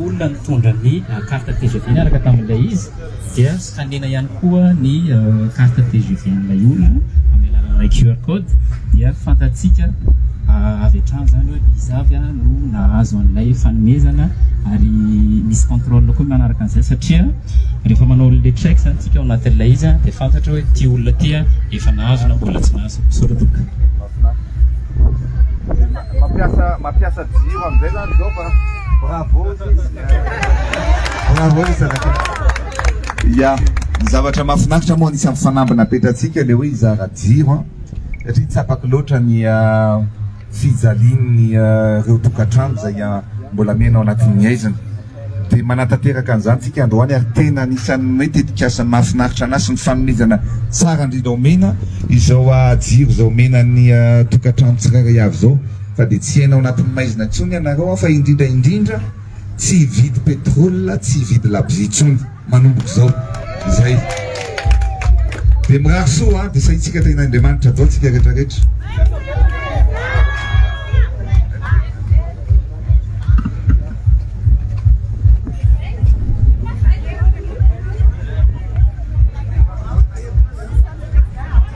olona nitondra ny carte tgv niaraka tamin'ilay izy dia hanena ihany koa ny carte tgv an'ilay olona amin'ny alalan'ilay QR code dia fantatsika avy hatrany izany hoe iza avy no nahazo an'ilay fanomezana ary misy contrôle koa manaraka an'izay satria rehefa manao le check izany tsika ao anatin'ilay izy dia fantatra hoe ity olona ity efa nahazo na mbola tsy nahazo. Misaotra tompoko. Mampiasa mampiasa jiro amin'izay zany izao fa bravo bravo zanakay. Ya, ny zavatra mahafinaritra moa anisan'ny fanambina petratsika le hoe hizara jiro an, satria tsapako loatra ny fijalian'ny reo tokantrano izay mbola miaina ao anatin'ny haizina. Dia manatanteraka an'izany isika androany ary tena anisan'ny hoe tetikasa mahafinaritra an'ahy sy ny fanomezana tsara indrindra omena izao jiro izay omena ny tokantrano tsirairay avy izao fa dia tsy hiaina ao anatin'ny maizina intsony ianareo aho fa indrindra indrindra tsy hividy petrol tsy hividy labozia intsony. manomboka izao. Izay. Dia mirary soa an, dia sahintsika tena Andriamanitra adao tsika rehetra rehetra.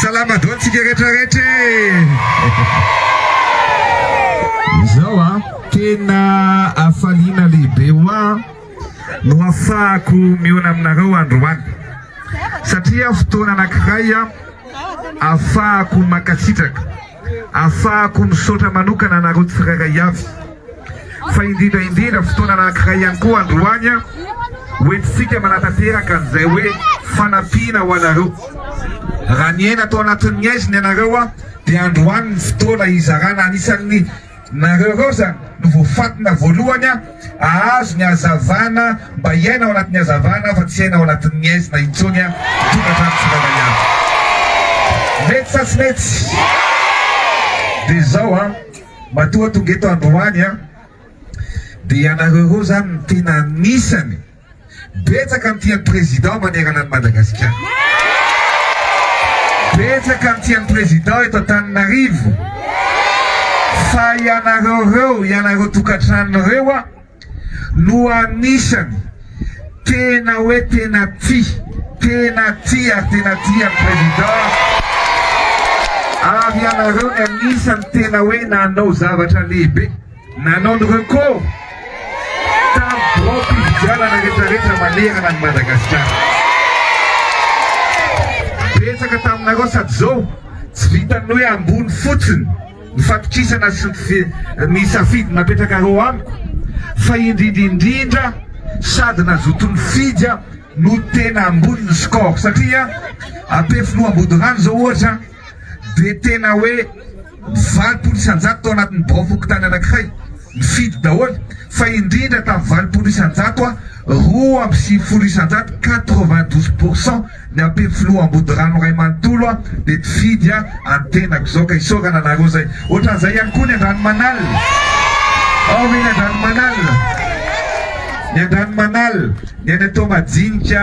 Salama daholo tsika rehetra rehetra e! Izao a, tena hafaliana lehibe hoa. no afahako miona aminareo androany satria fotoana anankiray afahako mankasitraka afahako misaotra manokana anareo tsirairay avy fa indrindra indrindra fotoana anankiray ihany koa androany hoentintsika manatanteraka an'izay hoe fanampiana ho anareo raha niaina tao anatin'ny aizina ianareo dia androany ny fotoana hizarana anisan'ny Nareo reo zany no voafatina voalohany an! Ahazo ny hazavana mba hiaina ao anatin'ny hazavana fa tsy hiaina ao anatin'ny haizina intsony an! Tokantrano tsirairay avy! Mety sa tsy mety? Dia izao an! Matoa tonga eto androany an! Dia ianareo reo zany no tena anisany. Betsaka ny tia ny Président manerana an'i Madagasikara. Betsaka ny tia ny Président eto Antananarivo. Fa ianareo ireo, ianareo tokantrano ireo a, no anisany tena hoe tena tia, tena tia ary tena tia ny Président. Ary ianareo no anisany tena hoe nanao zavatra lehibe. Nanao ny recours tamin'ny biraom-pifidianana rehetrarehetra manerana an'i Madagasikara. Betsaka taminareo sady izao tsy vitan'ny hoe ambony fotsiny ny fatokisana sy ny safidy napetrakareo amiko fa indrindra indrindra sady nazoto nifidy aho no tena ambony ny score satria Ampefiloha Ambodirano izao ohatra dia tena hoe valopolo isan-jato tao anatin'ny bao fokontany anankiray nifidy daholo fa indrindra tamin'ny valopolo isan-jato roa amby sivifolo isan-jato quatre vingt douze pour cent ny ampefy filoha Ambodirano iray manontolo dia mpifidy an-tenako izao ka isaorana anareo izay ohatran'izay ihany koa ny Andranomanala ao ve ny Andranomanala ny Andranomanala ny any Toamajinika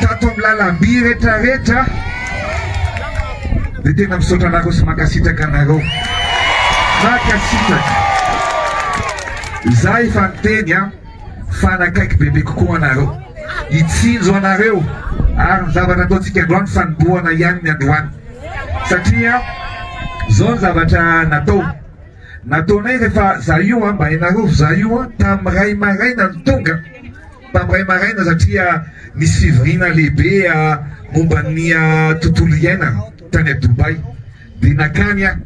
Tato amin'ny lalamby rehetra rehetra dia tena misaotra anareo sy mankasitraka anareo. Mankasitraka. Izaho efa niteny an, fa hanakaiky bebe kokoa anareo. Hitsinjo anareo ary ny zavatra ataontsika androany fanombohana ihany ny androany. Satria izao ny zavatra natao. Nataonay rehefa izaho io an, mba hainareo fa izaho io an, tamin'ny iray maraina no tonga. Tamin'ray maraina satria nisy fivoriana lehibe momba ny tontolo iainana tany à Dubaï dia nakany aho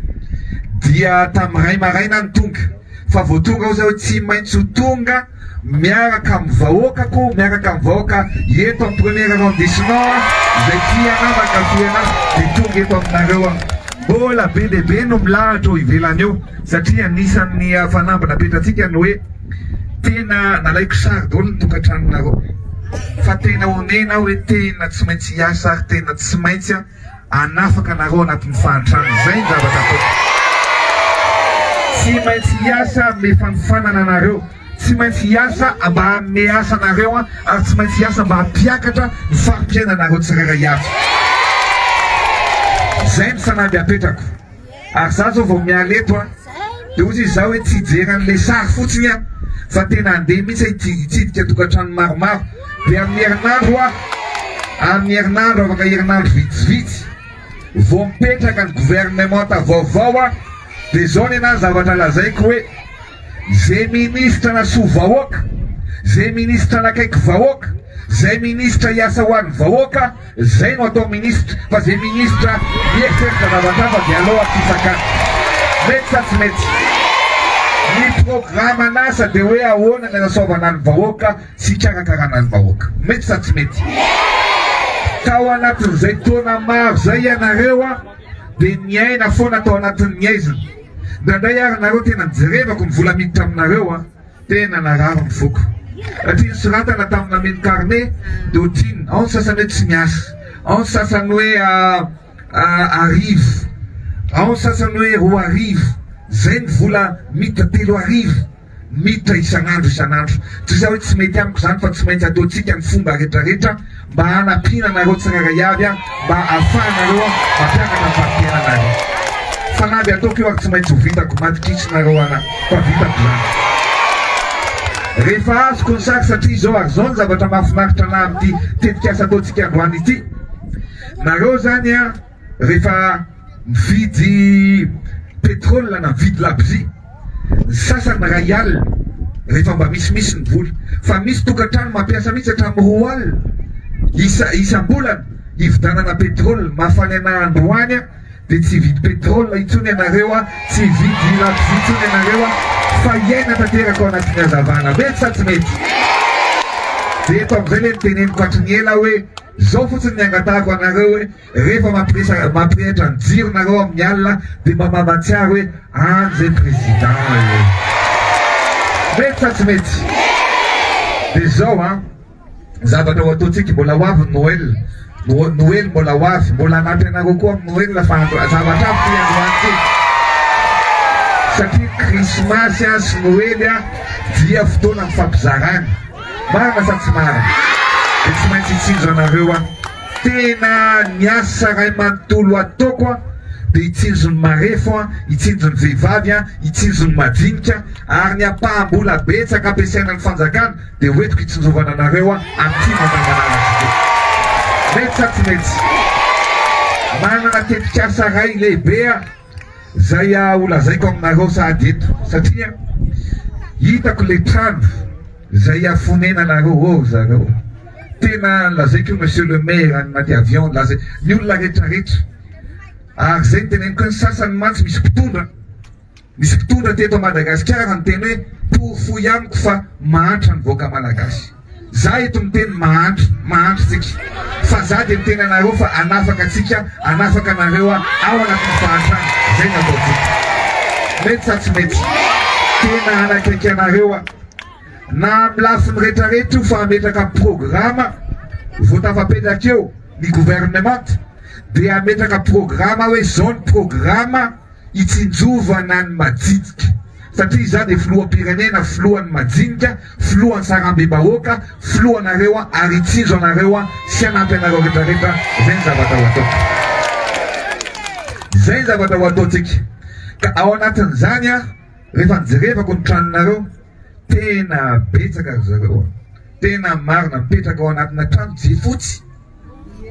dia tamin'ny ray maraina aho no tonga fa vao tonga ao zaho tsy maintsy ho tonga miaraka amin'ny vahoakako miaraka amin'ny vahoaka eto amin'ny premier arrondissement izay tia anah mankafy anah dia tonga eto aminareo aho mbola be dia be no milahatra eo ivelany eo satria anisan'ny fanamby napetratsika ny hoe Tena nalaiko sary daholo ny tokantranonareo fa tena onena aho hoe tena tsy maintsy hiasa ary tena tsy maintsy aho hanafaka anareo anatin'ny fahantrana. Izay ny zavatra ataoko. Tsy maintsy hiasa hanome fanofanana anareo, tsy maintsy hiasa mba hanome asa anareo ary tsy maintsy hiasa mba hampiakatra ny fari-piainanareo tsirairay avy. Izay ny fanamby apetrako. Ary za zao vao miala eto a, de ozy izaho hoe tsy hijery an'ilay sary fotsiny aho fa tena handeha mihitsy aho hitsidika tokantrano maromaro, de amin'ny herinandro a, amin'ny herinandro, afaka herinandro vitsivitsy vao mipetraka ny gouvernementa vaovao aho, de zao nenah ny zavatra lazaiko hoe. Zay ministra na soa vahoaka, zay ministra nakaiky vahoaka, zay ministra hiasa ho an'ny vahoaka, zay no atao ministra, fa zay ministra mieritreritra zavatra hafa dia aleo atsisakana. Mety sa tsy mety? Ny programan'asa dia hoe ahoana ny anasoavana ny vahoaka sy hikarakarana ny vahoaka. Mety sa tsy mety? Tao anatin'izay taona maro izay ianareo dia niaina foana tao anatin'ny haizina. Indraindray ary nareo tena njerevako ny vola miditra aminareo a! tena narary ny foko satria ny soratana tamina mini carnet dia otriny ao ny sasany hoe tsy miasa, ao ny sasany hoe a arivo, ao ny sasany hoe roa arivo, zay ny vola miditra telo arivo. Miditra isan'andro isan'andro. Tsy izay hoe tsy mety amiko izany fa tsy maintsy ataontsika ny fomba rehetrarehetra mba hanampiana anareo tsirairay avy mba hahafahanareo mampianatra ny fari-piainanareo. Fanamby ataoko io ary tsy maintsy ho vitako. Madikitsinareo ahy fa vitako izany. Rehefa azoko ny sary satria izao ary izao ny zavatra mahafinaritra anahy amin'ity tetikasa ataontsika androany ity. Nareo izany an! rehefa mividy petrol na mividy labozia, ny sasany iray alina rehefa mba misimisy ny vola, fa misy tokantrano mampiasa mihitsy hatramin'ny roa alina isa isam-bolana hividanana petrol, mafana ena androany a dia tsy hividy petrol intsony ianareo a, tsy hividy labozia intsony ianareo a, fa hiaina tanteraka ao anatin'ny hazavana, mety sa tsy mety? Dia eto amin'izay ilay noteneniko hatry ny ela hoe, zao fotsiny ny angatahako anareo hoe. rehefa mampiresa mampirehitra ny jiro nareo amin'ny alina dia mba mamatsiaro hoe any zay président e! Mety sa tsy mety? Dia zao an! Zavatra ho ataontsika, mbola ho avy ny Noël, Noe- Noely mbola ho avy, mbola hanampy anareo koa amin'ny Noël fa andro- zavatra avy ity androantsika. Satria krismasy an sy Noely an dia fotoana mifampizarana. Marina sa tsy marina? Dia tsy maintsy hitsinjo anareo aho. Tena ny asa ray manontolo ataoko an dia hitsinjo ny marefo an, hitsinjo ny vehivavy an, hitsinjo ny madinika ary ny ampaham-bola betsaka ampiasaina ny fanjakana dia hoentiko hitsinjovana anareo an aty Mandangalala Cité. Mety sa tsy mety? Manana tetikasa ray lehibe an. Zay ah ho lazaiko aminareo sahady eto satria hitako le trano zay hiafonenanareo oh ry zareo tena lazaiko io monsieur le maire any anaty avion laza ny olona retraretra ary zay ny teneniko hoe ny sasany mantsy misy mpitondra misy mpitondra teto Madagasikara niteny hoe porofoy amiko fa mahantra ny vahoaka malagasy Za eto miteny mahantra, mahantra tsika fa za de miteny anareo fa anafaka tsika, anafaka anareo ao anatin'ny fahantrana, zay no ataontsika. Mety sa tsy mety? Tena hanakaiky anareo aho na amin'ny lafiny retraretra io fa hametraka programa vao tafapetraka eo ny gouvernemanta de hametraka programa aho hoe zao ny programa, hitsinjovana ny majinika satria izaho dia filoham-pirenena, filohan'ny majinika, filohan'ny sarambem-bahoaka, filohanareo ary hitsinjo anareo sy hanampy anareo retraretra, izay ny zavatra ho ataoko. Izay ny zavatra ho ataontsika ka ao anatin'izany rehefa nijerevako ny tranonareo, tena betsaka ry zareo a! tena marina mipetraka ao anatina trano jifotsy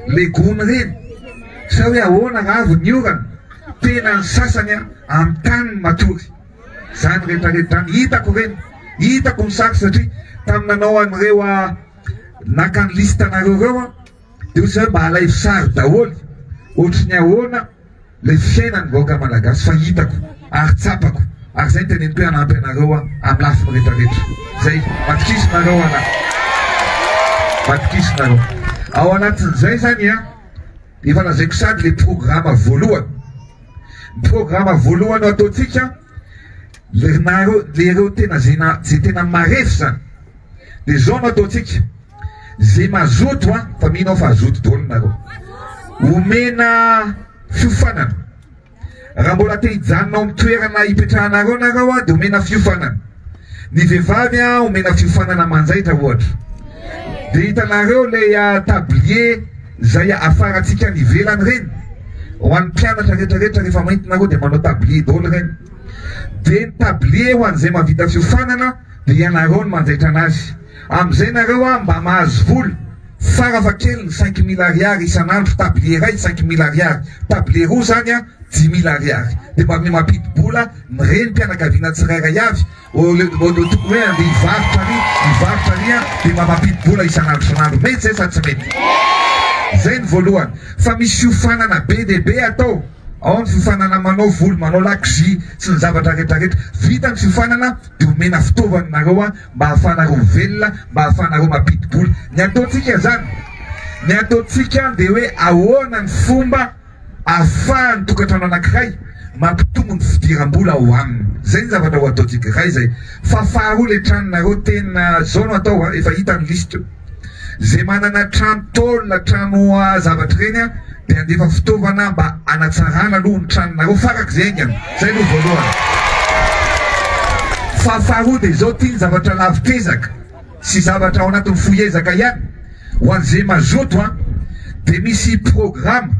le gony reny sa hoe ahoana ra avy ny orana? tena ny sasany a amin'ny tany matory zany rehetra rehetra zany hitako reny hitako ny sary satria tamin'ny nanao an'ireo a naka ny liste anareo reo a Io zany mba alaivo sary daholo ohatry ny ahoana le fiainan'ny vahoaka malagasy fa hitako ary tsapako ary zay ny teneniko hoe hanampy anareo aho amin'ny lafiny rehetra rehetra zay matokizo nareo ana matokizo nareo ao anatin'izay zany an efa lazaiko sady le programa voalohany ny programa voalohany ataontsika le nareo le reo tena zay na zay tena marefo zany de zao no ataontsika ze mazoto a fa mino aho fa zoto daholo nareo omena fiofanana raha mbola te hijanona ao amin'ny toerana hipetrahanareo nareo a de omena fiofanana ny vehivavy a omena fiofanana manjaitra ohatra de hitanareo le ah, tablier zay afarantsika any ivelany reny ho an'ny mpianatra retraretra rehefa maintinareo de manao tablier daholo reny de ny tablier ho an'izay mavita fiofanana Dia ianareo no manjaitra anazy. Amin'izay nareo an mba mahazo vola tsara fa kely ny cinq mille ariary isan'andro table iray cinq mille ariary table roa zany an dix mille ariary dia mba mia mampidi-bola ny renim-pianakaviana tsirairay avy au lieu de tokony hoe andeha hivarotra ary hivarotra ary an dia mba mampidi-bola isan'andro isan'andro mety izay sa tsy mety? Izay ny voalohany fa misy fiofanana be dia be atao. Ao ny fiofanana manao volo, manao lakozia sy ny zavatra rehetra rehetra. Vita ny fiofanana dia omena fitaovana nareo mba hahafahanareo velona, mba hahafahanareo mampidi-bola. Ny ataontsika zany, ny ataontsika dia hoe ahoana ny fomba ahafahan'ny tokantrano anankiray mampitombo ny fidiram-bola ao aminy. Zay ny zavatra ho ataontsika. Iray zay. Fa faharoa le tranonareo tena zao no atao a, efa hita ny liste. Izay manana trano tôle, trano zavatra ireny dia handefa fitaovana mba hanatsarana aloha ny tranonareo farak'izay haingana. Izay aloha voalohany. Fa faharoa dia izao, ity ny zavatra lavitr'ezaka sy zavatra ao anatin'ny fohy ezaka ihany, ho an'izay mazoto dia misy programa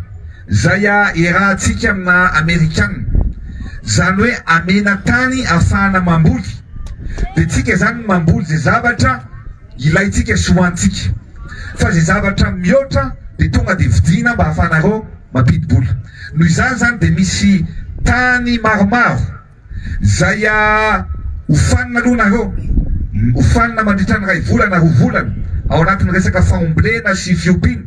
izay iarahantsika amina amerikana, izany hoe amena tany ahafahana mamboly, dia tsika izany mamboly izay zavatra ilaintsika sy hohanintsika fa izay zavatra mihoatra dia tonga dia vidiana mba hahafahanareo mampidi-bola noho izany izany dia misy tany maromaro izay hofanina aloha nareo hofanina mandritra ny iray volana roa volana ao anatin'ny resaka faomblena sy fiompiana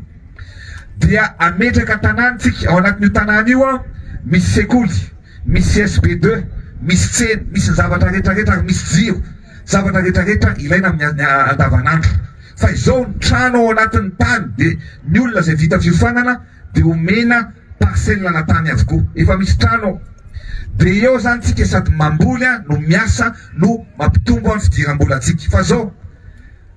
dia ametraka tanàntsika ao anatin'io tanàna io aho misy sekoly misy sb2 misy tsena misy ny zavatra retraretra ary misy jiro Zavatra rehetra rehetra ilaina amin'ny andavanandro. Fa izao ny trano ao anatin'ny tany dia ny olona izay vita fiofanana dia omena parcelle ana tany avokoa. Efa misy trano ao. Dia eo izany tsika sady mamboly no miasa no mampitombo ny fidiram-bolantsika. Fa izao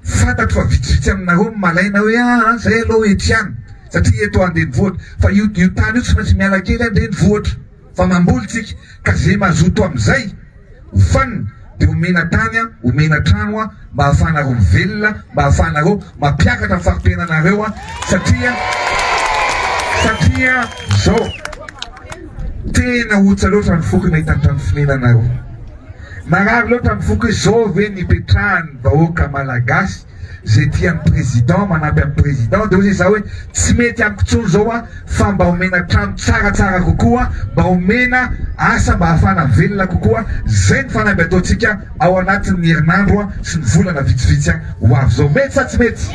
fantatro fa vitsivitsy aminareo no malaina hoe aa izay aloha ety ihany satria eto andrenivohitra. Fa io tany io tsy maintsy miala kely andrenivohitra. Fa mamboly tsika ka ze mazoto amzay hofanina de omena tany a omena trano a mba afahanareo mivelona mba afahanareo mampiakatra faritenanareo a satria satria zao tena otsa loatra ny foko nahita ny trano fonenanareo marary loatra ny foko e zao ve ny ipetrahan'ny vahoaka malagasy zay tia ny président manampy an'i président de ozy za oe tsy mety amiko tsony zao a fa mba omena trano tsara tsara kokoa mba omena asa mba afana velona kokoa zay ny fanamby ataotsika ao anatin'ny herinandro a sy ny volana vitsivitsy a ho avy zao mety sa tsy mety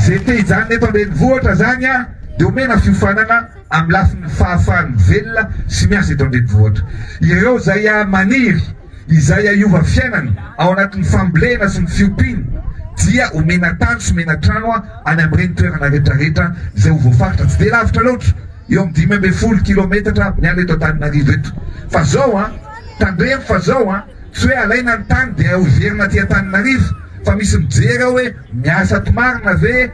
zay te hijanona eto andrenivohitra zany a de omena fiofanana amin'ny lafiny fahafahany velona sy miasa eto andrenivohitra ireo zay a maniry izay ahiova fiainana ao anatin'ny fambolena sy ny fiompiana dia omena tany sy omena trano any amin'ireny toerana rehetrarehetra izay ho voafaritra, tsy dia lavitra loatra, eo amin'ny dimy ambin'ny folo kilometatra ny any eto Antananarivo eto fa zao an! tandremo fa zao an! tsy hoe alaina ny tany dia hoverina aty Antananarivo fa misy mijery ao hoe miasa aty marina ve?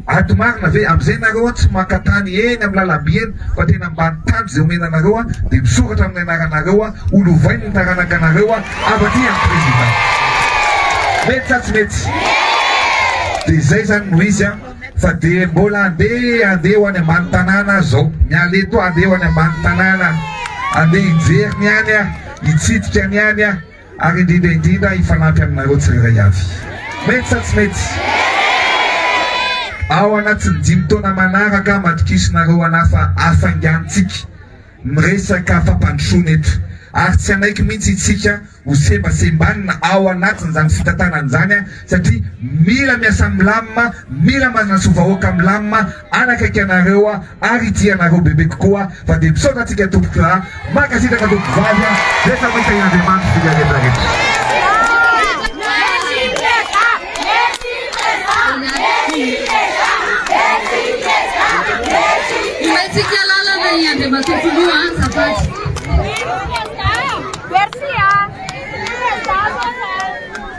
Ady marina ve amzay nareo an tsy maka tany eny am lalamby eny fa tena ambany tany zay omena anareo an de misoratra aminy anaranareo an ho lovainy ny taranaka anareo an avy aty an president mety sa tsy mety de zay zany no izy an fa de mbola ande ande ho any ambany tanàna aza zao miala eto ande ho any ambany tanàna ande hijery ny any an hitsidika ny any an ary indrindra indrindra hifanampy aminareo tsirairay avy. Mety sa tsy mety? Ao anatin'ny dimy taona manaraka, matokisinareo anah fa hafaingantsika miresaka fampandrosoana eto, ary tsy hanaiky mihitsy itsika ho sembasembanina ao anatin'izany fitantanana izany, satria mila miasa milamina, mila manasoa vahoaka milamina, hanakaiky anareo aho ary hitia anareo bebe kokoa fa dia misaotra antsika tompoko ra mankasitraka tompoko vavy a rehefa mahita i Andriamanitra dia miha rehetra rehetra